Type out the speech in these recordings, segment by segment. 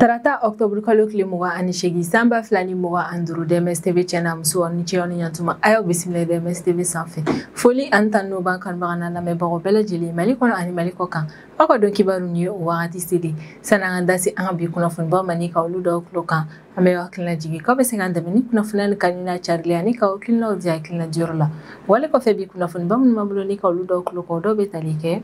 tarata ɔktɔburu kalo tile mugan ani seegin san ba fila ni mugan ani duuru DMS tv channel muso ni cɛ aw ni ɲatuma a y'aw bisimila DMS tv sanfɛ foli ani tanu b'an kanubaga n'an lamɛnbagaw bɛɛ lajɛlen mali kɔnɔ ani mali kɔ kan aw ka don kibaru nin ye o wagati selen san'an ka taa se an ka bi kunnafonibaw ma ni ka olu dɔw tulo kan an bɛ hakilina jigin k'aw bɛ se k'an dɛmɛ ni kunnafoni in kanu n'a carili ani k'aw hakilinaw di hakilina diyɔrɔ la wale kɔfɛ bi kunnafoniba minnu b'an bolo ni ka olu dɔw tulo kɔ dɔw bɛ tali kɛ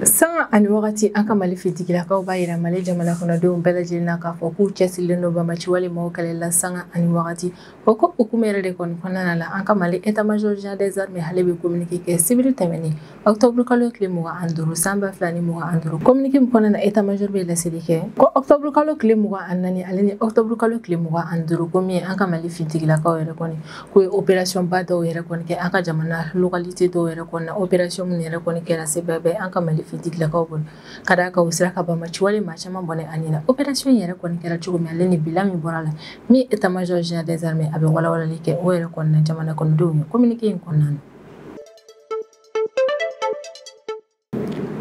sanga ani wagati an ka mali fitigilakaw b'a yira mali jamana kɔnɔdenw bɛɛ lajɛlen na k'a fɔ k'u cɛsirilen don bamaciwale maaw kɛlɛ la sanga ani wagati O ko hukumu yɛrɛ de kɔni kɔnɔna la an ka Mali état major général des armées ale bɛ communiqué kɛ sibiri tɛmɛnen octobre kalo tile mugan ani duuru san ba fila ni mugan ani duuru communiqué min kɔnɔna na état major bɛ laseli kɛ ko octobre kalo tile mugan ani naani ale ni octobre kalo tile mugan ani duuru ko min ye an ka Mali fintigilakaw yɛrɛ kɔni k'u ye opération ba dɔw yɛrɛ kɔni kɛ an ka jamana localité dɔw yɛrɛ kɔnɔna opération minnu yɛrɛ kɔni kɛra sebaya bɛ an ka Mali fintigilakaw bolo ka d'a kan u sera ka bamaciwale maa caman bɔnɛ a nin na opération yɛrɛ kɔni kɛra cogo min ale ni bilan min bɔr'a la min état major général des armées a bɛ walawalali kɛ o yɛrɛ kɔni na jamana kɔnɔdenw ye communiqué in kɔnɔna na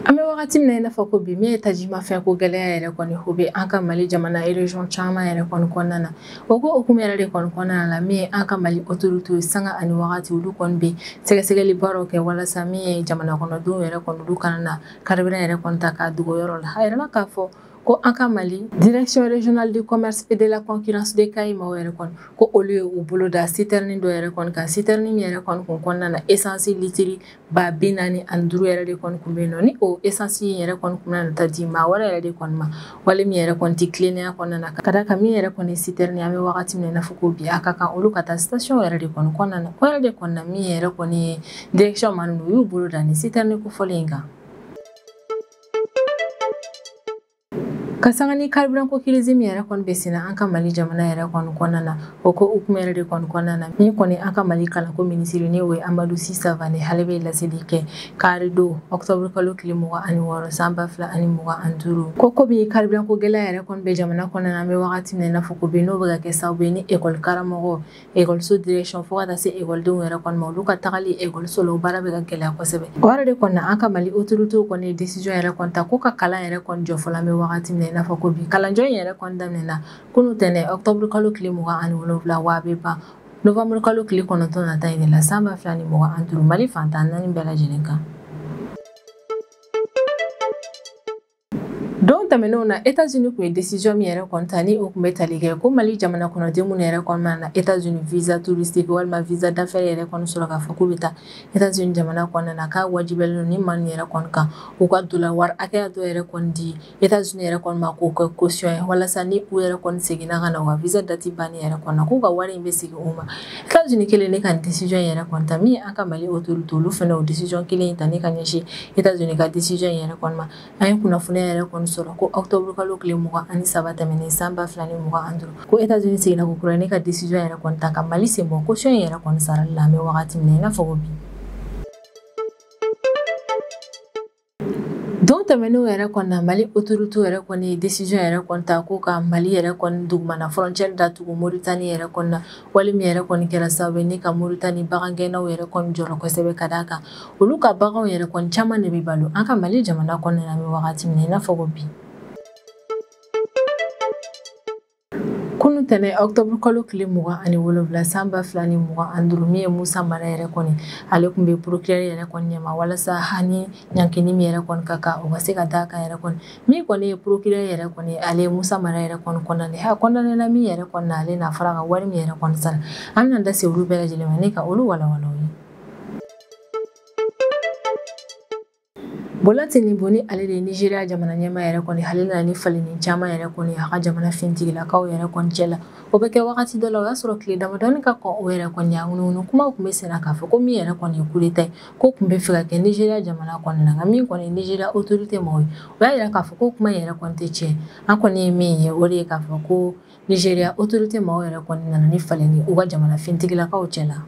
an bɛ wagati min na i n'a fɔ ko bi min ye tajimafɛn ko gɛlɛya yɛrɛ kɔni o bɛ an ka mali jamana région caman yɛrɛ kɔni kɔnɔna na o ko hukumu yɛrɛ de kɔni kɔnɔna la min ye an ka mali autorité ye sanga ani wagati olu kɔni bɛ sɛgɛsɛgɛli baaraw kɛ walasa min ye jamana kɔnɔdenw yɛrɛ kɔni olu kana na Carburant yɛrɛ kɔni ta k'a dogo yɔrɔ la a yirala k'a fɔ ko an ka mali direction régionale du commerce et de la concurrence de kayi maaw yɛrɛ kɔni ko olu ye u bolo da sitɛrinin dɔ yɛrɛ kɔni kan sitɛrinin min yɛrɛ kɔni kun kɔnɔna na esansi litiri ba binaani ani duuru yɛrɛ de kɔni kun bɛ yen nɔ ni o esansi in yɛrɛ kɔni kun na taa di maa wɛrɛ yɛrɛ de kɔni ma wale min yɛrɛ kɔni tɛ tilennenya kɔnɔna na ka d'a kan min yɛrɛ kɔni sitɛrɛni an bɛ wagati min na i n'a fɔ ko bi a ka kan olu ka taa station yɛrɛ de kɔni kɔnɔna na o yɛrɛ de kɔni na min yɛrɛ kɔni ye direction maa ninnu u y'u bolo da nin sitɛrɛni kofɔlen in kan ka sanga ni karibiran ko kirizi min yɛrɛ kɔni bɛ senna an ka mali jamana yɛrɛ kɔni kɔnɔna na O ko hukumu yɛrɛ de kɔni kɔnɔna na min kɔni an ka mali kalanko minisiri n'o ye Amadu Si Savane ale bɛ laseli kɛ kari don octobre kalo tile mugan ani wɔɔrɔ san ba fila ani mugan ani duuru ko bi carburant ko gɛlɛya yɛrɛ kɔni bɛ jamana kɔnɔna na an bɛ wagati min na i n'a fɔ ko bi n'o bɛ ka kɛ sababu ye ni ekɔlikaramɔgɔ ekɔli direction fo ka taa se ekɔlidenw yɛrɛ kɔni ma olu ka tagali ekɔliso la o baara bɛ ka gɛlɛya kosɛbɛ o yɛrɛ de kɔni na an ka mali autorité kɔni ye décision yɛrɛ kɔni ta ko ka kalan yɛrɛ jɔ fɔlɔ an bɛ wagati min na i n'a fɔ ko bi kalanjɔ yɛrɛ kɔnda na kunun tɛnɛ ɔktɔburu kalo tile mugan ani wolonwula wa a bɛ ban novanburu kalo tile kɔnɔntɔn nata in de la san ba fila ni mugan ani duuru mali fan tan ni naani bɛɛ lajɛlen kan don tɛmɛnenw na etats-unis tun ye desiziyɔn min yɛrɛ kɔni ta ni o tun bɛ tali kɛ ko mali jamana kɔnɔden minnu yɛrɛ kɔni nana etats-unis visa touristique walima visa d'affaires yɛrɛ kɔni sɔrɔ k'a fɔ k'u bɛ taa etats-unis jamana kɔnɔna na k'a wajibiyalen don ni maa ninnu yɛrɛ kɔni kan u ka dola wari hakɛya dɔ yɛrɛ kɔni di Etats-unis yɛrɛ kɔni ma k'o kɛ kosiyɔn ye walasa ni u yɛrɛ kɔni seginna ka na u ka visa dati banni yɛrɛ kɔni na k'u ka wari in bɛ segin u ma etats-unis kɛlen ne ka desiziyɔn yɛrɛ kɔni ta min an ka mali autorité olu fana o desiziyɔn kelen in ta ne ka ɲɛsin etats-unis ka desiziyɔn yɛrɛ kɔni ma an ye kunnafoni yɛrɛ kɔni sɔrɔ ko ɔktɔburu kalo tile mugan ani saba tɛmɛnen san ba fila ni mugan ani duuru ko etats-unis seginna kokura ne ka desiziyɔn yɛrɛ kɔni ta ka mali sen bɔ kosiyɔn in yɛrɛ kɔni sara la an bɛ wagati min na i n'a fɔ ko bi Don tɛmɛnenw yɛrɛ kɔni na mali autoritéw yɛrɛ kɔni ye desiziyɔn yɛrɛ kɔni ta k'u ka mali yɛrɛ kɔni dugumana frontière datugu moritani yɛrɛ kɔni na wale min yɛrɛ kɔni kɛra sabu ne ka moritani bagangɛnnaw yɛrɛ kɔni jɔrɔ kosɛbɛ ka d'a kan olu ka baganw yɛrɛ kɔni caman de bɛ balo an ka mali jamana kɔnɔna na an bɛ wagati min na i n'a fɔ ko bi kunu tɛnɛ octobre kalo tile mugan ani wolonwula san ba fila ni mugan ani duuru min ye musa mara yɛrɛ kɔni ale tun bɛ procureur yɛrɛ kɔni ɲɛma walasa a ni ɲangili min yɛrɛ kɔni ka kan o ka se ka d'a kan yɛrɛ kɔni min kɔni ye procureur yɛrɛ kɔni ale ye musa mara yɛrɛ kɔni kondane a kondanena min yɛrɛ kɔni na ale n'a fara ka wari min yɛrɛ kɔni sara an na da se olu bɛɛ lajɛlen ma ne ka olu walawala aw ye Bola Tinubu ni ale de ye Nizeriya jamana ɲɛmaa yɛrɛ kɔni ale nana ni falenni caman yɛrɛ kɔni a ka jamana fintigilakaw yɛrɛ kɔni cɛ la o bɛ kɛ wagati dɔ la o y'a sɔrɔ tile damadɔni ka kɔn o yɛrɛ kɔni a ŋunuŋunu kumaw tun bɛ senna k'a fɔ ko min yɛrɛ kɔni ye kudeta ye k'o tun bɛ fɛ ka kɛ Nizeriya jamana kɔni na nka min kɔni ye Nizeriya autorité mɔgɔw ye u y'a jira k'a fɔ k'o kuma yɛrɛ kɔni tɛ tiɲɛ an kɔni ye min ye o de ye k'a fɔ ko Nizeriya autorité mɔgɔw yɛrɛ kɔni nana ni falenni u ka jamana fintigilakaw cɛ la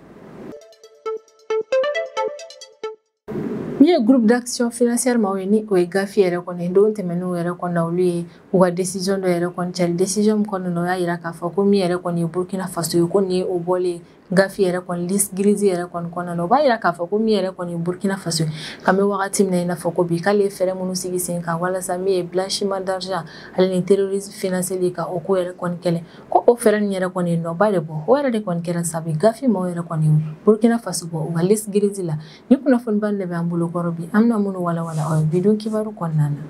Min ye groupe d'action financière maaw ye ni o ye gafi yɛrɛ kɔni ye don tɛmɛnenw yɛrɛ kɔni na olu ye u ka décision dɔ yɛrɛ kɔni cari décision min kɔni na o y'a jira k'a fɔ ko min yɛrɛ kɔni ye Burkina Faso ye ko nin ye o bɔlen gafi yɛrɛ kɔni liste grise yɛrɛ kɔni kɔnɔna na o b'a jira k'a fɔ ko min yɛrɛ kɔni ye Burkina Faso ye k'an bɛ wagati min na i n'a fɔ ko bi k'ale ye fɛɛrɛ minnu sigi sen kan walasa min ye blanchiment d'argent ale ni terrorisme financeli ka o ko yɛrɛ kɔni kɛlɛ ko o fɛɛrɛ nin yɛrɛ kɔni ye nɔba de bɔ o yɛrɛ de kɔni kɛra sabu gafi maaw yɛrɛ kɔni burukina faso bɔ u ka liste grise la nin kunnafonibaw de bɛ an bolo kɔrɔ bi an bɛna minnu walawala aw ye bi don kibaru kɔnɔna na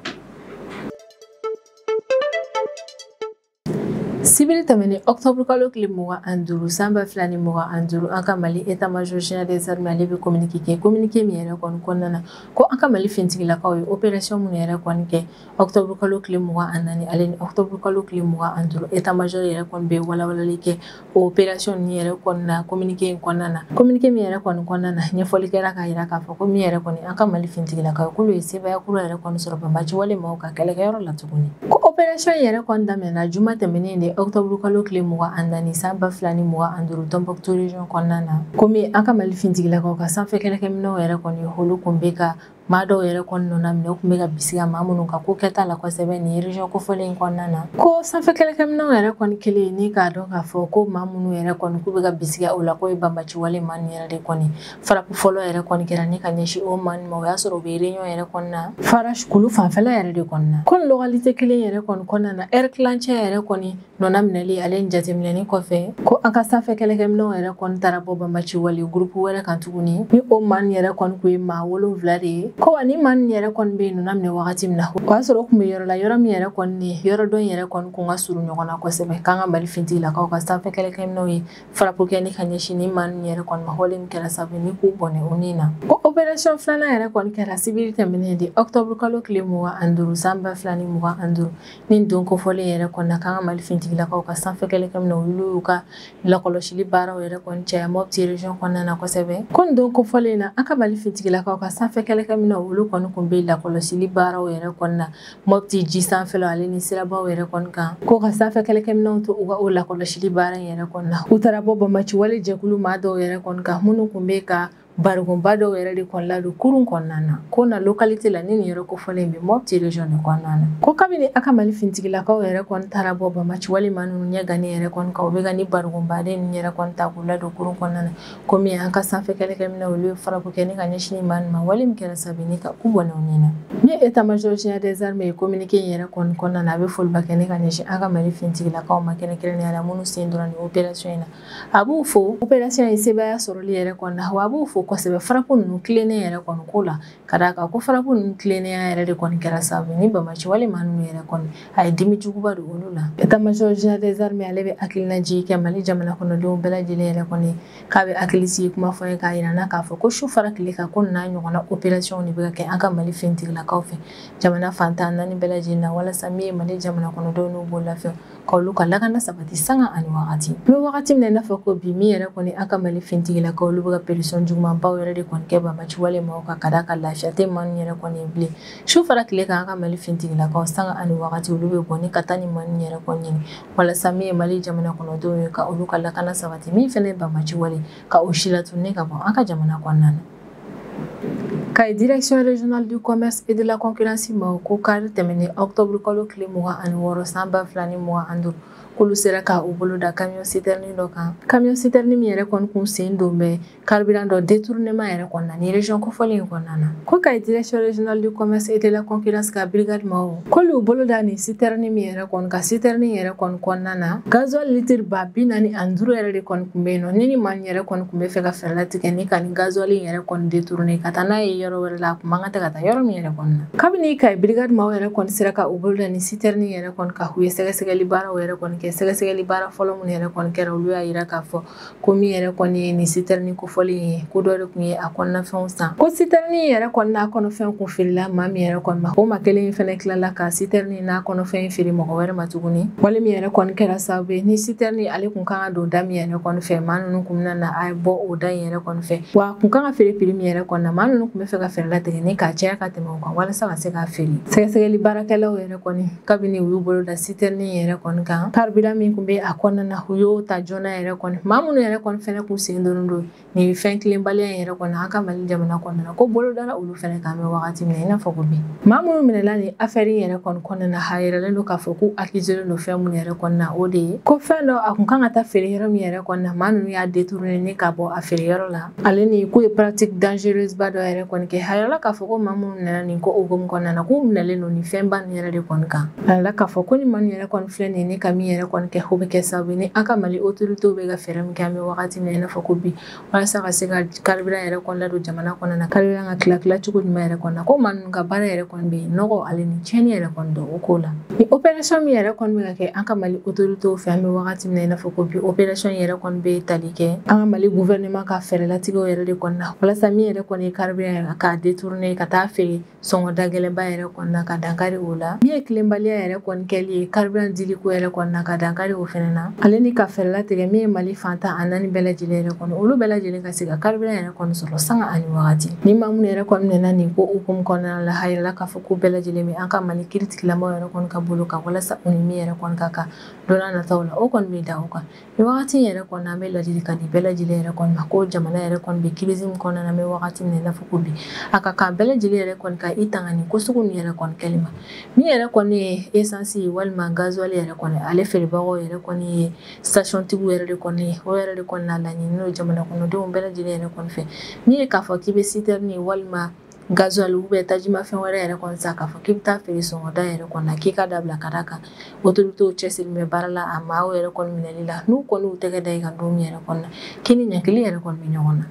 sibiri tɛmɛnen octobre kalo tile mugan ani duuru san ba fila ni mugan ani duuru an ka mali état major général des armées ale bɛ communiqué kɛ communiqué min yɛrɛ kɔni kɔnɔna na ko an ka mali fintigilakaw ye opération minnu yɛrɛ kɔni kɛ octobre kalo tile mugan ani naani ale ni octobre kalo tile mugan ani duuru état majeur yɛrɛ kɔni bɛ walawalali kɛ o opération nin yɛrɛ kɔnɔna communiqué in kɔnɔna na communiqué min yɛrɛ kɔni kɔnɔna na ɲɛfɔli kɛra k'a yira k'a fɔ ko min yɛrɛ kɔni an ka mali fintigilakaw k'olu ye sebaaya kura yɛrɛ kɔni sɔrɔ banbaci wale maaw ka kɛlɛkɛyɔrɔ la tuguni ko opération yɛrɛ kɔni daminɛna juma tɛmɛnen de octobre kalo tile mugan ani naani san ba fila ni mugan ani duuru tombouctou region kɔnɔna na komi an ka mali fintigilakaw ka sanfɛ kɛlɛkɛminɛw yɛrɛ kɔni olu kun bɛ ka maa dɔw yɛrɛ kɔni nɔna minɛ u kun bɛ ka bisiga maa minnu ka ko kɛta la kosɛbɛ nin region kofɔlen in kɔnɔna na ko sanfɛ kɛlɛkɛminɛw yɛrɛ kɔni kɛlen ni k'a dɔn k'a fɔ ko maa minnu yɛrɛ kɔni k'u bɛ ka bisiga o la k'o ye banbaciwale maa nin yɛrɛ de kɔni frappe fɔlɔ yɛrɛ kɔni kɛra ni ka ɲɛsin o maa nin ma o y'a sɔrɔ u bɛ réunion yɛrɛ kɔnɔna farash kulu fanfɛla yɛrɛ de kɔnɔna ko localité kelen yɛrɛ kɔni kɔnɔna na ɛri tilancɛ yɛrɛ kɔni Nɔna minɛli ale ni jateminɛni kɔfɛ ko an ka sanfɛ kɛlɛkɛminɛw yɛrɛ kɔni taara bɔ banbaci wale gurupu wɛrɛ kan tuguni ni o maa nin yɛrɛ kɔni kun ye maa wolonwula de ye ko wa ni maa nin yɛrɛ kɔni bɛ yen nɔna minɛ wagati min na o y'a sɔrɔ o kun bɛ yɔrɔ la yɔrɔ min yɛrɛ kɔni ni yɔrɔ dɔn yɛrɛ kɔni kun ka surun ɲɔgɔn na kosɛbɛ k'an ka mali fintigilakaw ka sanfɛ kɛlɛkɛminɛw ye farapu kɛ ni ka ɲɛsin ni maa nin yɛrɛ kɔni ma wale min kɛra sabu ni k'u bɔnɛ o ni na ko operasiyɔn filanan yɛrɛ kɔni kɛra sibiri tɛmɛnen de ɔkutɔburukalo tile mugan ani duuru san ba fila ni mugan ani duuru Nin don kofɔlen yɛrɛ kɔnɔna na k'an ka Mali finitigilakaw ka sanfɛ kɛlɛkɛminɛw olu y'u ka lakɔlɔsili baaraw yɛrɛ kɔni caya Mopti region kɔnɔna na kosɛbɛ. Ko nin don kofɔlen in na, an ka Mali finitigilakaw ka sanfɛ kɛlɛkɛminɛw olu kɔni kun bɛ lakɔlɔsili baaraw yɛrɛ kɔnɔna na Mopti ji sanfɛlaw ale ni sirabaw yɛrɛ kɔni kan. Ko ka sanfɛ kɛlɛkɛminɛw to u ka o lakɔlɔsili baara in yɛrɛ kɔnɔna na, u taara bɔ banbaciwale jɛkulu maa dɔw yɛrɛ kɔni kan minnu kun bɛ ka Barikonba dɔw yɛrɛ de kɔni ladon kurun kɔnɔna na ko na localité la ni nin yɔrɔ kofɔlen in bɛ Mopti region de kɔnɔna na ko kabini an ka Mali finitigilakaw yɛrɛ kɔni taara bɔ banbaci wale maa ninnu ɲɛ gannen yɛrɛ kɔni kan u bɛ ka ni barikonbaden ninnu yɛrɛ kɔni ta k'u ladon kurun kɔnɔna na komi an ka sanfɛ kɛlɛkɛminɛw olu ye frappe kɛ ni ka ɲɛsin maa nin ma wale min kɛra sababu ni ka u bɔnɛ u ni na ni état major général des armées ye communiqué in yɛrɛ kɔni kɔnɔna na a bɛ foliba kɛ ni ka ɲɛsin an ka Mali finitigilakaw ma kɛrɛnkɛrɛnnenya la minnu sen donna nin opération in na a b'u fo operasiyɔn ye sebaaya sɔrɔli yɛrɛ kɔnɔna wa a b'u fo kosɛbɛ farapu ninnu tilennen yɛrɛ kɔni ko la ka d'a kan ko farapu ninnu tilennenya yɛrɛ de kɔni kɛra sababu ni banbaci wale maa ninnu yɛrɛ kɔni a ye dimi juguba don olu la état major général des armées ale bɛ hakilinaji kɛ mali jamana kɔnɔdenw bɛɛ lajɛlen yɛrɛ kɔni k'a bɛ hakili sigi kuma fɔ ye k'a yira na k'a fɔ ko su fara tile kan ko n'a ɲɔgɔnna operasiyɔnw de bɛ ka kɛ an ka mali fintigilakaw fɛ jamana fantan naani bɛɛ lajɛlen na walasa min ye mali jamana kɔnɔdenw n'u b'o lafiya ka olu ka lakana sabati sanga ani wagati an bɛ wagati min na i n'a fɔ ko bi min yɛrɛ kɔni an ka mali fintigilakaw olu bɛ ka peresɔn jugumanbaw yɛrɛ de kɔni kɛ banbaci wale maaw kan ka d'a kan lafiya tɛ maa ninnu yɛrɛ kɔni ye bilen su fara tile kan an ka mali fintigilakaw sanga ani wagati olu bɛ bɔ ni ka taa ni maa ninnu yɛrɛ kɔni ɲini walasa min ye mali jamana kɔnɔdenw ye ka olu ka lakana sabati min fɛnɛ ye banbaci wale ka o si latunun ni ka bɔ an ka jamana kɔnɔna na kayi direction régionale du commerce et de la concurrence maaw ko kari tɛmɛnen octobre kalo tile mugan ani wɔɔrɔ san ba fila ni mugan ani duuru k'olu sera ka u bolo da camion citerne dɔ kan camion citerne min yɛrɛ kɔni kun sen don bɛ carburant dɔ détournement yɛrɛ kɔnɔna ni région kofɔlen in kɔnɔna na ko kayi direction régionale du commerce et de la concurrence ka brigade maaw K'olu y'u bolo da nin citerne min yɛrɛ kɔni kan citerne yɛrɛ kɔni kɔnɔna na gazuwali litiri ba bi naani ani duuru yɛrɛ de kɔni kun bɛ yen nɔ ne ni maa min yɛrɛ kɔni kun bɛ fɛ ka fɛɛrɛ latigɛ ni ka nin gazuwali in yɛrɛ kɔni détourner ka taa n'a ye yɔrɔ wɛrɛ la a kun man kan tɛ ka taa yɔrɔ min yɛrɛ kɔni na kabini kayi brigade maaw yɛrɛ kɔni sera ka u bolo da nin citerne yɛrɛ kɔni kan u ye sɛgɛsɛgɛli baaraw yɛrɛ kɔni kɛ sɛgɛsɛgɛli baara fɔlɔ minnu yɛrɛ kɔni kɛra olu y'a yira k'a fɔ ko min yɛrɛ kɔni ye nin citerne kofɔlen ye ko dɔ de kun ye a kɔnɔnafɛnw san ko citerne yɛrɛ kɔni n'a kɔnɔfɛn kun feerela maa min yɛrɛ kɔni ma o maa kelen in fɛnɛ tilala ka citerne n'a kɔnɔfɛn feere mɔgɔ wɛrɛ ma tuguni wale min yɛrɛ kɔni kɛra sababu ye ni citerne ale kun kan ka don da min yɛrɛ kɔni fɛ maa nunu kun bɛna na a bɔ o da in yɛrɛ kɔni fɛ wa kun kan ka feere prix min yɛrɛ kɔni na maa nunu kun bɛ fɛ ka fɛɛrɛ latigɛ ni k'a caya ka tɛmɛ o kan walasa ka se k'a feere sɛgɛsɛgɛli baarakɛlaw yɛrɛ kɔni kabini u y'u bolo da citerne yɛrɛ kɔni kan carburant min kun bɛ a kɔnɔna na u y'o ta joona yɛrɛ kɔni maa minnu yɛrɛ kɔni fɛnɛ kun sen donnen don nin fɛn tilenbaliya in yɛrɛ kɔni an ka mali jamana kɔnɔna na ko bolo dara olu fɛnɛ kan an bɛ wagati min na i n'a fɔ ko bi maa minnu minɛla nin afɛri yɛrɛ kɔni kɔnɔna na a yiralen don k'a fɔ k'u akizelen don fɛn minnu yɛrɛ kɔni na o de ye ko fɛn dɔ a kun kan ka taa feere yɔrɔ min yɛrɛ kɔni na maa ninnu y'a détourné ni ka bɔ a feere yɔrɔ la ale ni k'u ye pratique dangereuse ba dɔ yɛrɛ kɔni kɛ a yirala k'a fɔ ko maa minnu minɛla nin ko hukumu kɔnɔna na k'u minɛlen don nin fɛnba nin yɛrɛ de kɔni kan a yirala k'a fɔ ko nin maa nin yɛrɛ kɔni filɛ nin ye ne ka min yɛrɛ kɔni kɛ o bɛ kɛ sababu ye ni an ka mali autorité bɛ ka fɛɛrɛ min kɛ an bɛ wagati min na i n'a fɔ ko bi walasa ka se ka carburant yɛrɛ kɔni ladon jamana kɔnɔna na carburant ka tila tila cogo ɲuman yɛrɛ kɔni na ko maa ninnu ka baara yɛrɛ kɔni bɛ yen nɔgɔ ale ni tiɲɛni yɛrɛ kɔni don o ko la ni opération min yɛrɛ kɔni bɛ ka kɛ an ka mali autorité fɛ an bɛ wagati min na i n'a fɔ ko bi opération yɛrɛ kɔni bɛ tali kɛ an ka mali gouvernement ka fɛɛrɛlatigɛw yɛrɛ de kɔnɔna na walasa min yɛrɛ kɔni ye carburant yɛrɛ k'a détourner ka taa feere sɔngɔ dagɛlɛnba yɛrɛ kɔnɔna na ka dankari o la min ye tilenbaliya yɛrɛ kɔni kɛli ye carburant dili ko yɛrɛ kɔnɔna na ka dankari o fana na ale ni ka fɛɛrɛ latigɛ min ye mali fan tan ni naani bɛɛ lajɛlen yɛrɛ kɔnɔ olu bɛɛ lajɛlen ka se ka carburant yɛrɛ kɔni sɔrɔ sanga ani wagati ni maa minnu yɛrɛ kɔni minɛna nin ko hukumu kɔnɔna la a yirala k'a fɔ ko bɛɛ lajɛlen bɛ an ka mali kiiritigɛla maaw yɛrɛ kɔni ka bolo kan walasa u ni min yɛrɛ kɔni ka kan don nataw la o kɔni bɛ da o kan Nin wagati yɛrɛ kɔnɔ an bɛ laadilikan di bɛɛ lajɛlen yɛrɛ kɔni ma ko jamana yɛrɛ kɔni bɛ crise min kɔnɔna na an bɛ wagati min na i n'a fɔ ko bi a ka kan bɛɛ lajɛlen yɛrɛ kɔni ka i tanga nin ko sugu nin yɛrɛ kɔni kɛli ma min yɛrɛ kɔni ye esansi walima gazuwali yɛrɛ kɔni ale feerebagaw yɛrɛ kɔni ye station tigiw yɛrɛ de kɔni ye o yɛrɛ de kɔni na laɲini n'o jamana kɔnɔdenw bɛɛ lajɛlen yɛrɛ kɔni fɛ min ye k'a fɔ k'i bɛ site min ye walima gazuwali ubiyɛn tajimafɛn wɛrɛ yɛrɛ kɔni san k'a fɔ k'i bɛ taa feere sɔngɔda yɛrɛ kɔni na k'i k'a dabila ka d'a kan otoritew cɛsirilen bɛ baara la a maaw yɛrɛ kɔni minɛli la n'u kɔni y'u tɛgɛ da i kan don min yɛrɛ kɔni na k'i ni ɲangili yɛrɛ kɔni bɛ ɲɔgɔn na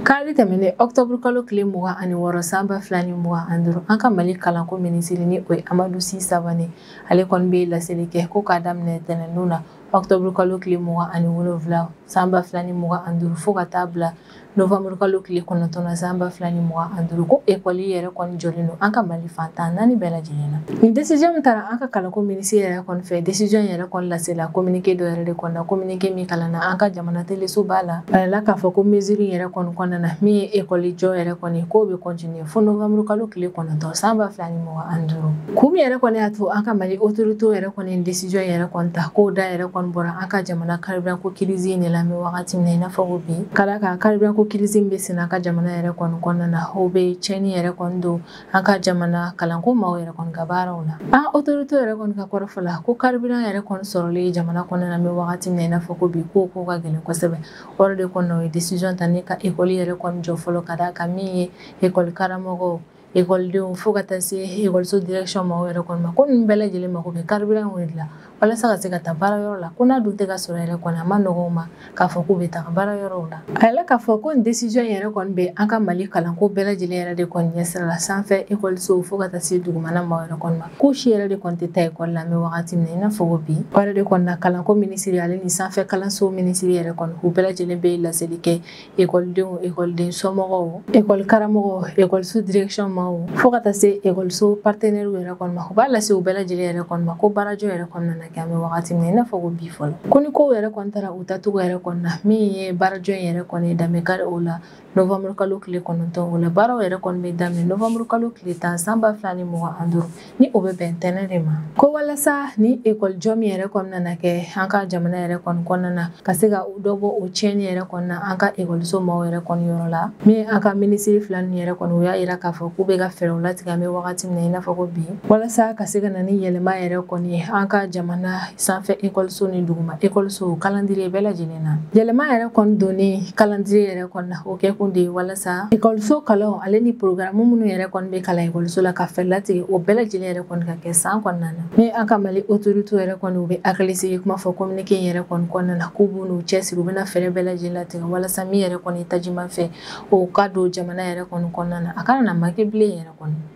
kari tɛmɛnen octobre kalo tile mugan ani wɔɔrɔ san ba fila ni mugan ani duuru an ka mali kalanko minisiri ni o ye amadu si sabane ale kɔni bɛ laseli kɛ ko k'a daminɛ tɛnɛndon na octobre kalo tile mugan ani wolonwula san ba fila ni mugan ani duuru fo ka taa bila novembre kalo tile kɔnɔntɔn na san ba fila ni mugan ani duuru ko ekɔli yɛrɛ kɔni jɔlen don an ka mali fan tan naani bɛɛ lajɛlen na nin desiziyɔn min taara an ka kalanko minisiri yɛrɛ kɔni fɛ desiziyɔn yɛrɛ kɔni lasela kominike dɔ yɛrɛ de kɔnɔna kominike min kalanna an ka jamana telesoba la a yirala k'a fɔ ko mesure yɛrɛ kɔni kɔnɔna na min ye ekɔli jɔ yɛrɛ kɔni k'o bɛ kɔntiniye fo novembre kalo tile kɔnɔntɔn san ba fila ni mugan ani duuru kun min yɛrɛ kɔni y'a to an ka mali otoritew yɛrɛ kɔni desiziyɔn yɛrɛ kɔni ta k'o da yɛrɛ kɔni bɔra an ka jamana carburant ko crise in de la an bɛ wagati min na i n'a fɔ bi ka d'a kan carburant ko crise bɛ sen an ka jamana yɛrɛ kɔni kɔnɔna na o bɛ tiɲɛni yɛrɛ kɔni don an ka jamana kalanko maaw yɛrɛ kɔni ka baaraw la an otoritew yɛrɛ kɔni ka kɔrɔfɔ la ko carburant yɛrɛ kɔni sɔrɔli jamana kɔnɔna na an bɛ wagati min na i n'a fɔ ko bi k'o ka gɛlɛn kosɛbɛ o yɛrɛ de kɔnɔna u ye décision ta ne ka ekɔli yɛrɛ kɔni jɔ fɔlɔ ka d'a kan min ye ekɔli karamɔgɔw ekɔlidenw fo ka taa se ekɔliso direction maaw yɛrɛ kɔni ma ko ninnu bɛɛ lajɛlen mako bɛ carburant in de la walasa ka se ka taa baara yɔrɔ la ko n'a dun tɛ ka sɔrɔ yɛrɛ kɔni a man nɔgɔn u ma k'a fɔ k'u bɛ taga baara yɔrɔw la a yirala k'a fɔ ko nin décision yɛrɛ kɔni bɛ an ka mali kalanko bɛɛ lajɛlen yɛrɛ de kɔni ɲɛsira la sanfɛ ekɔlisow fo ka taa se dugumana maaw yɛrɛ kɔni ma ko si yɛrɛ de kɔni tɛ taa ekɔli la an bɛ wagati min na i n'a fɔ ko bi o yɛrɛ de kɔni na kalanko minisiri ale ni sanfɛ kalanso minisiri yɛrɛ kɔni u bɛɛ lajɛlen bɛ laseli kɛ ekɔlidenw ekɔliden somɔgɔw ekɔli karamɔgɔw ekɔliso direction maaw fo ka taa se ekɔliso partenaires yɛrɛ kɔni ma u b'a lase u bɛɛ lajɛlen yɛrɛ kɔni ma ko baarajɔ yɛrɛ kɔni nana kɛ an bɛ wagati min na i n'a fɔ ko bi fɔlɔ ko ni kow yɛrɛ kɔni taara u taacogo yɛrɛ kɔni na min ye baarajɔ in yɛrɛ kɔni dan bɛ kari o la novembre kalo tile kɔnɔntɔn o la baaraw yɛrɛ kɔni bɛ daminɛ novembre kalo tile tan san ba fila ni mugan ani duuru ni o bɛ bɛn tɛnɛn de ma ko walasa ni ekɔli jɔ min yɛrɛ kɔni nana kɛ an ka jamana yɛrɛ kɔni kɔnɔna na ka se ka dɔ bɔ o tiɲɛni yɛrɛ kɔni na an ka ekɔliso maaw yɛrɛ kɔni yɔrɔ la min an ka minisiri fila ninnu yɛrɛ kɔni u y'a yira k'a fɔ k'u bɛ ka fɛɛrɛw latigɛ an bɛ wagati min na i n'a fɔ ko bi walasa ka se ka na ni yɛlɛma yɛrɛ kɔni ye an ka jamana sanfɛ ekɔlisow ni duguma ekɔliso kalandiriye bɛɛ lajɛlen na yɛlɛma yɛrɛ kɔni donni kalandiriye yɛrɛ kɔni na o kɛ kun de ye walasa ekɔliso kalanw ale ni porogaramu minnu yɛrɛ kɔni bɛ kalan ekɔliso la ka fɛɛrɛ latigɛ o bɛɛ lajɛlen yɛrɛ kɔni ka kɛ san kɔnɔna na ni an ka mali otoritew yɛrɛ kɔni u bɛ hakilisigi kuma fɔ kominike in yɛrɛ kɔni kɔnɔna na k'u bɛn'u cɛsiri u bɛna fɛɛrɛ bɛɛ lajɛlen latigɛ walasa min yɛrɛ kɔni tajimafɛn o ka don jamana yɛrɛ kɔni kɔnɔna na a kana na manke bilen yɛrɛ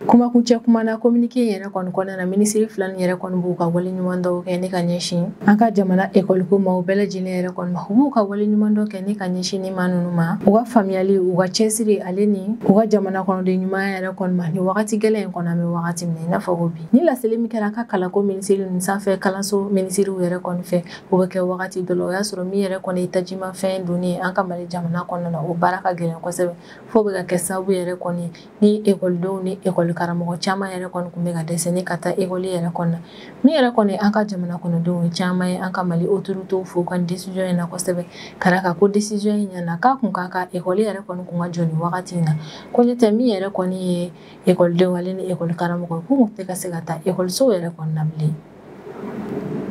kumakun cɛ kuma na kominike yɛrɛ kɔni kɔnɔna na minisiri fila nin yɛrɛ kɔni b'u ka waleɲumandɔn kɛ ni ka ɲɛsin an ka jamana ekɔliko maaw bɛɛ lajɛlen yɛrɛ kɔni ma u b'u ka waleɲumandɔn kɛ ni ka ɲɛsin ni maa ninnu ma u ka faamuyali u ka cɛsiri ale ni u ka jamana kɔnɔden ɲumanya yɛrɛ kɔni ma ni wagati gɛlɛn in kɔnɔ an bɛ wagati min na i n'a fɔ ko bi ni laseli min kɛra an ka kalanko minisiri ni sanfɛ kalanso minisiriw yɛrɛ kɔni fɛ o bɛ kɛ wagati dɔ la o y'a sɔrɔ min yɛrɛ kɔni ye tajimafɛn donni ye an ka mali jamana kɔnɔna na o baara ka gɛlɛn kosɛbɛ fo bɛ ka kɛ sababu yɛrɛ kɔni ni ekɔlidenw ni ekɔli karamɔgɔ caman yɛrɛ kɔni tun bɛ ka dɛsɛ ni ka taa ekɔli yɛrɛ kɔnɔ min yɛrɛ kɔni an ka jamana kɔnɔdenw caman ye an ka mali otoritew fo ka desijɔn in na kosɛbɛ ka da ka ko desijɔn in ɲɛna k'a kun ka kan ekɔli yɛrɛ kɔni kun ka jɔ ni wagati in na ko n'o tɛ min yɛrɛ kɔni ye ekɔlidenw ale ni ekɔli karamɔgɔ k'u kun tɛ ka se ka taa ekɔlisow yɛrɛ kɔni na bilen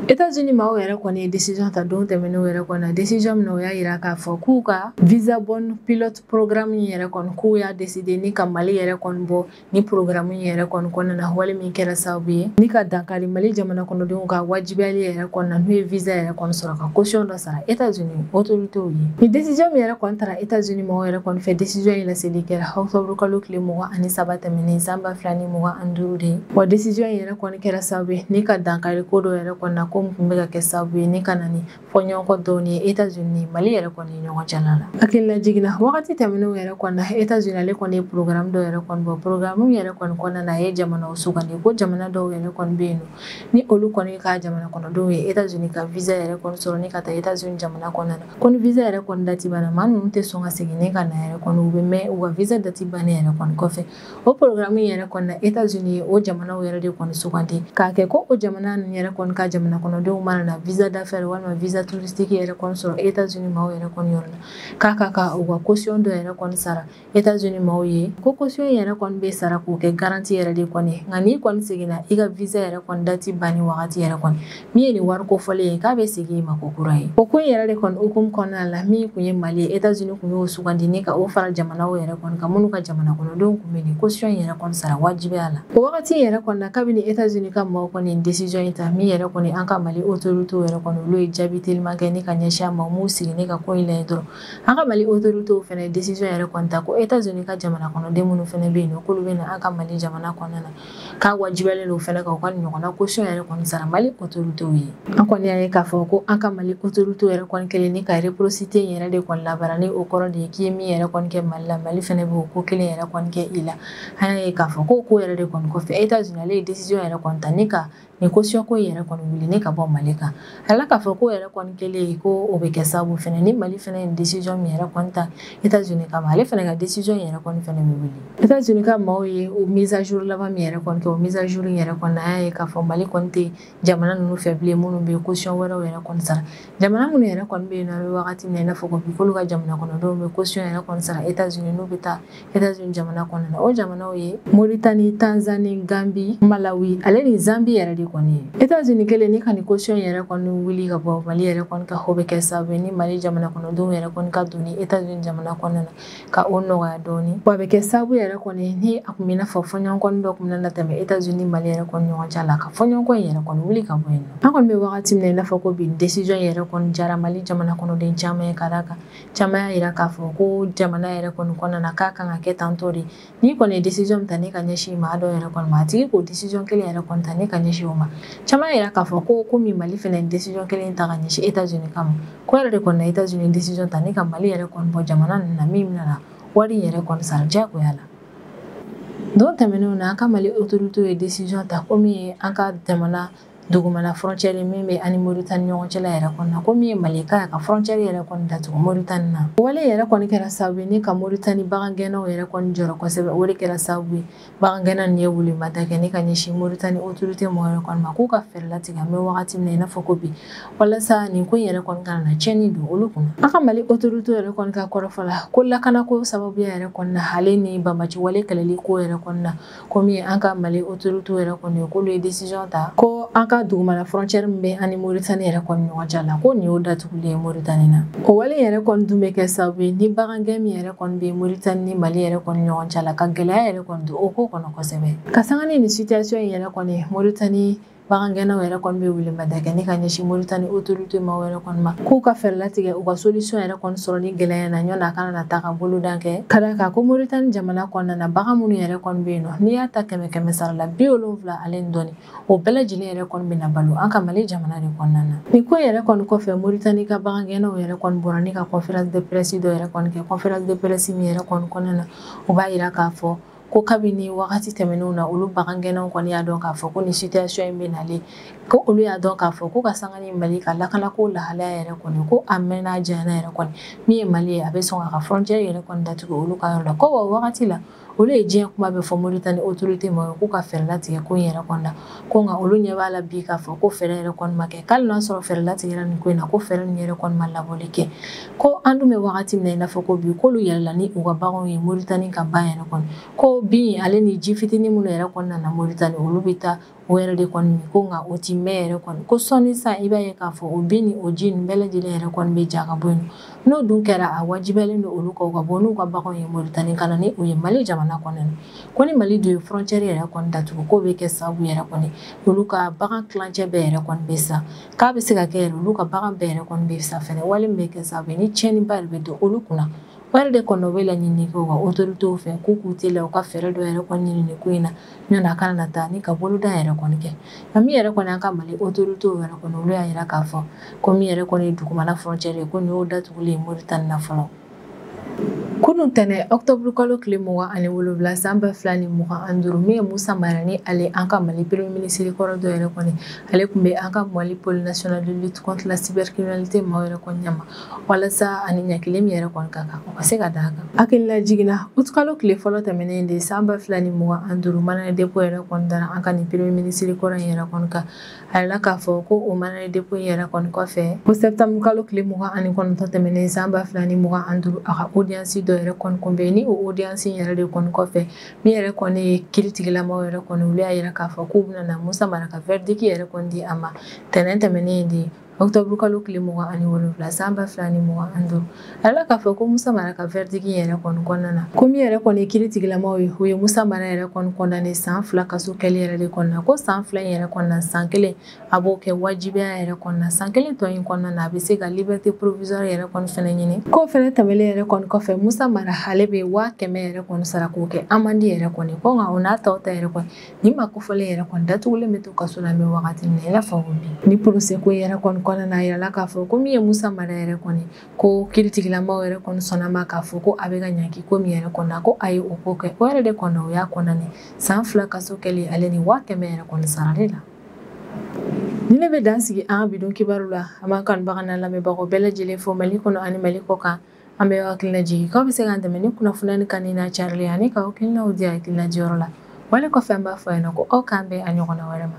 Etats-Unis maaw yɛrɛ kɔni ye décision ta don tɛmɛnenw yɛrɛ kɔni na décision min na u y'a yira k'a fɔ k'u ka visa bond pilot program in yɛrɛ kɔni k'u y'a décider ni ka Mali yɛrɛ kɔni bɔ ni programme in yɛrɛ kɔni kɔnɔna na wale min kɛra sababu ye ni ka dankari Mali jamana kɔnɔdenw ka wajibiyali yɛrɛ kɔni na n'u ye visa yɛrɛ kɔni sɔrɔ ka caution dɔ sara États-Unis autorités ye ni décision min yɛrɛ kɔni tara États-Unis mɔgɔw yɛrɛ kɔni fɛ décision in laseli kɛra octobre kalo tile mugan ani saba tɛmɛnen san ba fila ni mugan ani duuru de ye wa décision in yɛrɛ kɔni kɛra sababu ye ni ka dankari ko dɔ yɛrɛ kɔni na ko min tun bɛ ka kɛ sababu ye ni ka na ni fɔɲɔgɔnkɔ dɔɔni ye États-Unis Mali yɛrɛ kɔni ye ɲɔgɔn cɛla la hakililajigin na wagati tɛmɛnenw yɛrɛ kɔni na États-Unis ale kɔni ye programme dɔ yɛrɛ kɔni bɔ programme yɛrɛ kɔni kɔnɔna na a ye jamanaw sugandi ko jamana dɔw yɛrɛ kɔni bɛ yen nɔ ni olu kɔni ka jamana kɔnɔdenw ye États-Unis ka visa yɛrɛ kɔni sɔrɔ ni ka taa États-Unis jamana kɔnɔna na ko ni visa yɛrɛ kɔni dati banna maa ninnu tɛ sɔn ka segin ni ka na yɛrɛ kɔni u bɛ mɛn u ka visa dati bannen yɛrɛ kɔni kɔfɛ o programme yɛrɛ kɔni na États-Unis ye o jamanaw yɛrɛ de kɔni sugandi k'a kɛ ko o jamana ninnu yɛrɛ kɔni ka jamana kɔnɔdenw mana na visa d'affaires walima visa touristique yɛrɛ kɔni sɔrɔ États-Unis maaw yɛrɛ kɔni yɔrɔ la k'a ka kan u ka caution dɔ yɛrɛ kɔni sara États-Unis maaw ye ko caution yɛrɛ kɔni bɛ sara k'o kɛ garantie yɛrɛ de kɔni nka n'i kɔni seginna i ka visa yɛrɛ kɔni dati banni wagati yɛrɛ kɔni min ye nin wari kofɔlen ye k'a bɛ segin i ma ko kura ye o ko in yɛrɛ de kɔni hukumu kɔnɔna la min tun ye Mali ye États-Unis tun y'o sugandi ni ka o fara jamanaw yɛrɛ kɔni kan minnu ka jamana kɔnɔdenw tun bɛ nin caution yɛrɛ kɔni sara wajibiya la o wagati yɛrɛ kɔni na kabini États-Unis ka maaw kɔni nin décision in ta min yɛrɛ kɔni an ka Mali autorités yɛrɛ kɔni olu ye jaabi teliman kɛ ni ka ɲɛsin a ma u m'u sigi ni ka ko in lajɛ dɔrɔn an ka mali autorités fɛnɛ décision yɛrɛ kɔni ta ko États-Unis ka jamana kɔnɔden minnu fɛnɛ bɛ yen nɔ k'olu bɛ na an ka mali jamana kɔnɔna na k'a wajibiyalen don fɛnɛ ka u ka ɲɔgɔnna caution yɛrɛ kɔni sara mali autorités ye an kɔni y'a ye k'a fɔ ko an ka mali autorités yɛrɛ kɔni kɛlen ni ka réciprocité in yɛrɛ de kɔni labaara ni o kɔrɔ de ye k'i ye min yɛrɛ kɔni kɛ mali la mali fɛnɛ bɛ o ko kelen yɛrɛ kɔni kɛ i la an y'a ye k'a fɔ ko ko yɛrɛ de kɔni kɔfɛ États-Unis ale ye décision yɛrɛ kɔni ta ni ka nin kosiyɔn ko yɛrɛ kɔni wuli ni ka bɔ mali kan ala k'a fɔ ko yɛrɛ kɔni kɛlen ye ko o bɛ kɛ sababu fɛnɛ ni mali fɛnɛ ye desizɔn min yɛrɛ kɔni ta etats unis kama ale fɛnɛ ka desizɔn yɛrɛ kɔni fɛnɛ bɛ wuli etats unis ka maaw ye o mise à jour laban min yɛrɛ kɔni kɛ o mise à jour yɛrɛ kɔni na an y'a ye k'a fɔ mali kɔni tɛ jamana ninnu fɛ bilen minnu bɛ kosiyɔn wɛrɛw yɛrɛ kɔni sara jamana minnu yɛrɛ kɔni bɛ yen nɔ an bɛ wagati min na i n'a fɔ ko bi k'olu ka jamana kɔnɔdenw bɛ kosiyɔn yɛrɛ kɔni sara etats unis n'u bɛ taa États-Unis jamana kɔnɔna na o jamanaw ye Mauritanie, Tanzanie, Gambie, Malawi ale ni Zambie yɛrɛ de kɔni ye États-Unis kɛlen ni ka nin caution yɛrɛ kɔni wuli ka bɔ Mali yɛrɛ kɔni kan o bɛ kɛ sababu ye ni Mali jamana kɔnɔdenw yɛrɛ kɔni ka donni États-Unis jamana kɔnɔna na ka o nɔgɔya dɔɔni wa a bɛ kɛ sababu yɛrɛ kɔni ni a kun bɛ i n'a fɔ fɔɲɔgɔnkɔ dɔ kun bɛna na tɛmɛ États-Unis Mali yɛrɛ kɔni ɲɔgɔn cɛ la ka fɔɲɔgɔnkɔ in yɛrɛ kɔni wuli ka bɔ yen nɔ an kɔni bɛ wagati min na i n'a fɔ ko bi décision yɛrɛ kɔni jara Mali jamana kɔnɔden caman ye ka d'a kan caman y'a yira k'a fɔ ko jamana yɛrɛ kɔni kɔnɔna na k'a kan ka kɛ tantɔ de n'i kɔni ye decision min ta ni ka ɲɛsin maa dɔ yɛrɛ kɔni ma a tigi k'o decision kelen yɛrɛ kɔni ta ni ka ɲɛsin o ma caman y'a yira k'a fɔ ko komi mali fɛnɛ ye decision kelen ta ka ɲɛsin etats unis kama k'o yɛrɛ de kɔni na etats unis decision ta ni ka mali yɛrɛ kɔni bɔ jamana ninnu na min bɛna wari yɛrɛ kɔni sara diyagoya la don tɛmɛnenw na an ka mali autoritew ye decision ta komi an ka jamana dugumana frontière min bɛ an ni Mauritanie ɲɔgɔn cɛla yɛrɛ kɔnɔna na ko min ye Mali ka ye ka frontière yɛrɛ kɔni datugu Mauritanie na wale yɛrɛ kɔni kɛra sababu ye ni ka Mauritanie bagangɛnnaw yɛrɛ kɔni jɔrɔ kosɛbɛ o de kɛra sababu ye bagangɛnna nin ye welemada kɛ ni ka ɲɛsin Mauritanie autorité mɔgɔ yɛrɛ kɔni ma k'u ka fɛɛrɛ latigɛ an bɛ wagati min na i n'a fɔ ko bi walasa nin ko in yɛrɛ kɔni kana na tiɲɛni don olu kunna an ka Mali autorité yɛrɛ kɔni ka kɔrɔfɔ la ko lakanako sababuya yɛrɛ kɔni na ale ni banbaci wale kɛlɛli ko yɛrɛ kɔni na komi an ka mali autorité yɛrɛ kɔni k'olu ye décision ta ko an ka dugumana frontière min bɛ an ni moritani yɛrɛ kɔni ɲɔgɔn cɛ la ko nin y'o datugulen ye moritani na o wale yɛrɛ kɔni dun bɛ kɛ sababu ye ni bagangɛn min yɛrɛ kɔni bɛ moritani ni mali yɛrɛ kɔni ɲɔgɔn cɛ la ka gɛlɛya yɛrɛ kɔni don o ko kɔnɔ kosɛbɛ ka sanga ni nin situation in yɛrɛ kɔni moritani Bagangɛnnaw yɛrɛ kɔni bɛ welemada kɛ ni ka ɲɛsin moritani autorité maa yɛrɛ kɔni ma k'u ka fɛɛrɛ latigɛ u ka solution yɛrɛ kɔni sɔrɔ nin gɛlɛya na ɲɔgɔn a kana na taa ka boloda kɛ ka d'a kan ko moritani jamana kɔnɔna na bagan minnu yɛrɛ kɔni bɛ yen nɔ n'i y'a ta kɛmɛ kɛmɛ sara la bi wolonwula ale ni dɔɔni o bɛɛ lajɛlen yɛrɛ kɔni bɛ na balo an ka mali jamana de kɔnɔna na nin ko yɛrɛ kɔni kɔfɛ moritani ka bagangɛnnaw yɛrɛ kɔni bɔra ni ka conférence de presse dɔ yɛrɛ kɔni kɛ conférence de presse min yɛrɛ kɔni kɔnɔna na u b'a jira k'a fɔ ko kabini wagati tɛmɛnenw na olu bagangɛnnaw kɔni y'a dɔn k'a fɔ ko nin situation in bɛ nalen ko olu y'a dɔn k'a fɔ ko ka sanga ni mali ka lakanako lahalaya yɛrɛ kɔni ko a mɛnna a janyana yɛrɛ kɔni min ye mali ye a bɛ sɔn k'a ka frontière yɛrɛ kɔni datugu olu ka yɔrɔ la ko wa wagati la olu ye diɲɛ kuma bɛɛ fɔ moritani autorité ma k'u ka fɛɛrɛ latigɛ ko in yɛrɛ kɔni na ko nka olu ɲɛ b'a la bi k'a fɔ ko fɛɛrɛ yɛrɛ kɔni ma kɛ k'ali n'a sɔrɔ fɛɛrɛ latigɛra nin ko in na ko fɛɛrɛ nin yɛrɛ kɔni ma laboli kɛ ko an dun bɛ wagati min na i n'a fɔ ko bi k'olu yɛlɛla ni u ka baganw ye moritani ka ban yɛrɛ kɔni ko bin ale ni ji fitinin minnu yɛrɛ kɔni nana moritani olu bɛ taa o yɛrɛ de kɔni min ko nka o ti mɛn yɛrɛ kɔni ko sɔnni sa i b'a ye k'a fɔ o bin ni o ji nin bɛɛ lajɛlen yɛrɛ kɔni bɛ ja ka bɔ yen n'o dun kɛra a wajibiyalen don olu kan u ka bɔ n'u ka baganw ye Mauritanie ka na ni u ye Mali jamana kɔnɔ ko ni Mali dun ye frontière yɛrɛ kɔni datugu k'o bɛ kɛ sababu yɛrɛ kɔni olu ka bagan tilancɛ bɛɛ yɛrɛ kɔni bɛ sa k'a bɛ se ka kɛ yɛrɛ olu ka bagan bɛɛ yɛrɛ kɔni bɛ sa fɛnɛ wale min bɛ kɛ sababu ye ni tiɲɛniba yɛrɛ bɛ don olu kunna o yɛrɛ de kɔni bɛ laɲini kɛ u ka autorités fɛ k'u k'u teliya u ka fɛɛrɛ dɔ yɛrɛ kɔni ɲini nin ko in na Ɲɔn a kana na taa ni ka boloda yɛrɛ kɔni kɛ nka min yɛrɛ kɔni an ka mali autoritéw yɛrɛ kɔni olu y'a jira k'a fɔ ko min yɛrɛ kɔni ye dugumana frontière ye ko nin y'o datugulen moritani na fɔlɔ kunun tɛnɛn octobre kalo tile mugan ani wolowula san ba fila ni mugan an duuru min ye musa mara ni ale an ka mali premier minisiri kɔrɔ dɔ yɛrɛ kɔni ale tun bɛ an ka mali pôle national de lutte contre la cybercriminalité maaw yɛrɛ kɔni ɲɛma walasa ani ɲangili min yɛrɛ kɔni ka kan o ka se ka d'a kan hakilila jiginna utukalo tile fɔlɔ tɛmɛnen de san ba fila ni mugan an duuru mandat de dépôt yɛrɛ kɔni dara an ka nin premier minisiri kɔrɔ in yɛrɛ kɔni kan a yɛrɛ k'a fɔ ko o mandat de dépôt in yɛrɛ kɔni kɔfɛ ko sɛptamuru kalo tile mugan ani kɔnɔntɔn tɛmɛnen san ba fila ni mugan an duuru a ka audience dɔ yɛrɛ kɔni tun bɛ ni o audience in yɛrɛ de kɔni kɔfɛ min yɛrɛ kɔni ye kiritigɛlamaw yɛrɛ kɔni olu y'a yira k'a fɔ k'u bɛna na musa mara ka verdict yɛrɛ kɔni di a ma tɛnɛn tɛmɛnen de octobre kalo tile mugan ani wolonwula san ba fila ni mugan ani duuru a yɛrɛ k'a fɔ ko musa mara ka verdict yɛrɛ kɔni kɔnɔna na ko min yɛrɛ kɔni ye kiritigɛlamaw ye u ye musa mara yɛrɛ kɔni condamné san fila kaso kɛli yɛrɛ de kɔnɔna ko san fila in yɛrɛ kɔnɔna san kelen a b'o kɛ wajibiya yɛrɛ kɔnɔna san kelen tɔ in kɔnɔna na a bɛ se ka liberté provisoire yɛrɛ kɔni fɛnɛ ɲini k'o fɛnɛ tɛmɛlen yɛrɛ kɔni kɔfɛ musa mara ale bɛ waa kɛmɛ yɛrɛ kɔni sara k'o kɛ amende yɛrɛ kɔni ko nka o n'a ta o ta yɛrɛ kɔni Nin maa kofɔlen yɛrɛ kɔni datugulen bɛ to kaso la an bɛ wagati min na i n'a fɔ bi ni procès ko yɛrɛ kɔni kɔnɔna na a yirala k'a fɔ ko min ye musa mara yɛrɛ kɔni ko kiritigɛlamaw yɛrɛ kɔni sɔnna a ma k'a fɔ ko a bɛ ka ɲangi ko min yɛrɛ kɔnɔ ko a ye o ko kɛ o yɛrɛ de kɔnɔ o y'a condamné san fila kaso kɛli ale ni waa kɛmɛ yɛrɛ kɔni sarali la nin de bɛ dan sigi an ka bi don kibaru la an b'an kanubaga n'an lamɛnbagaw bɛɛ lajɛlen fo mali kɔnɔ ani mali kɔ kan an bɛ aw hakilila jigin k'aw bɛ se k'an dɛmɛ ni kunnafoni nin kanuni n'a carili ani k'aw hakilinaw di hakilina diyɔrɔ la wale kɔfɛ an b'a fɔ aw ɲɛna ko aw k'an bɛn a ɲɔgɔnna wɛrɛ ma